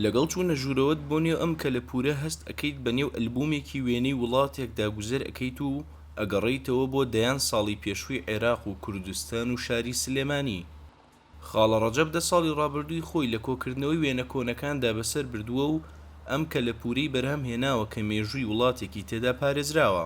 لەگەڵ چوونە ژوورەوەت بۆ نێو ئەم کەلەپوورە هەست ئەکەیت بە نێو ئەلبوومێکی وێنەی وڵاتێکدا گوزەر ئەکەیت و ئەگەڕێیتەوە بۆ دەیان ساڵی پێشووی عێراق و کوردستان و شاری سلێمانی. خاڵە ڕەجەب دە ساڵی ڕابردووی خۆی لە کۆکردنەوەی وێنە کۆنەکاندا بەسەر بردووە و ئەم کەلەپوورەی بەرهەم هێناوە کە مێژووی وڵاتێکی تێدا پارێزراوە.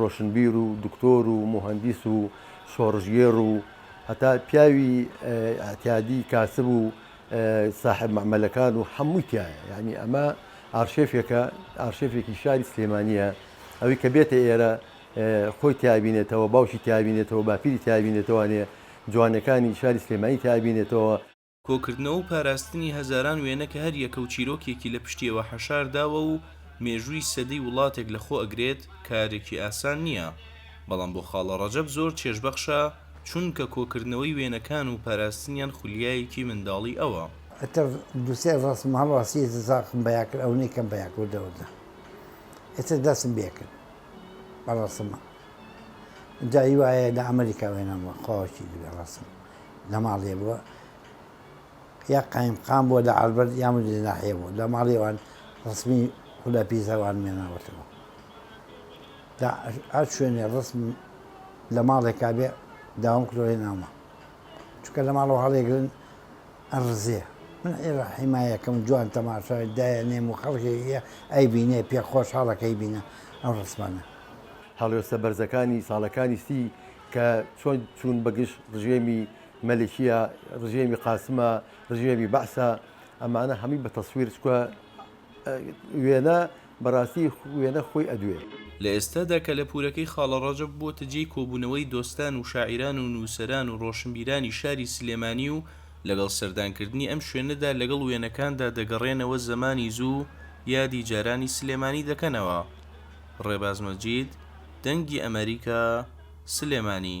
ڕۆشنبیر و دکتۆر و موهەندیس و شۆڕشگێڕ و هەتا پیاوی ئیعتیادی کاسب و ساحێب مەعمەلەکان و هەمووی تیایە یانی ئەمە ئارشێفێکە ئارشێفێکی شاری سلێمانیە ئەوی کە بێتە ئێرە خۆی تیابینێتەوە باوکی تیابینێتەوە باپیری تیابینێتەوانێ جوانەکانی شاری سلێمانی تیابینێتەوە کۆکردنەوە و پاراستنی هەزاران وێنە کە هەر یەکە و چیرۆکێکی لە پشتیەوە حەشار داوە و مێژووی سەدەی وڵاتێک لە خۆ ئەگرێت کارێکی ئاسان نیە بەڵام بۆ خاڵە ڕەجەب زۆر چێژبەخشە چونکە کۆکردنەوەی وێنەکان و پاراستنیان خولیایەکی منداڵی ئەوە. ئێتر دوو سێ ڕەسم هەڵواسیەتی زاخم بەیا کرد ئەونەی کەم بەیا کرد وردەوردە ئێتر دەسم بێ کرد بە ڕەسم ئینجا هیوایە لە ئەمریکا وێنەم وە خواوەکی دوێ ڕەسم. لە ماڵێ بووە یا قایم قام بووە لە ئالبەر یا مدیر ناحیە بوو لە ماڵی وان ڕسمی خدا پیزەوان مێناوەتەوە هەر شوێنێ ڕسم لە ماڵێکا بێ داوام کردۆی نامە چکە لە ماڵەوە هەڵێگرن ئەڕزێ من ئێرە حیمایەکەم جوان تەماشای دایە نێم و خەڵکێکە ئەی بینێ پێ خۆش هەڵەکەی بینە ئەو ڕسمانە هەڵوێستە بەرزەکانی ساڵەکانی سی کە چۆن چوون بە گژ ڕژێمی مەلیکیە، ڕژێمی قاسمە، ڕژێمی بەعسە، ئەمانە هەمووی بە تەسویر، چکە وێنە بەڕاستی وێنە خۆی ئەدوێ. لە ئێستادا کەلەپوورەکەی خاڵە ڕەجەب بووەتە جێی کۆبوونەوەی دۆستان و شاعیران و نووسەران و ڕۆشنبیرانی شاری سلێمانی و لەگەڵ سەردانکردنی ئەم شوێنەدا لەگەڵ وێنەکاندا دەگەڕێنەوە زەمانی زوو و یادی جارانی سلێمانی دەکەنەوە. ڕێباز مەجید. دەنگی ئەمەریکا سلێمانی.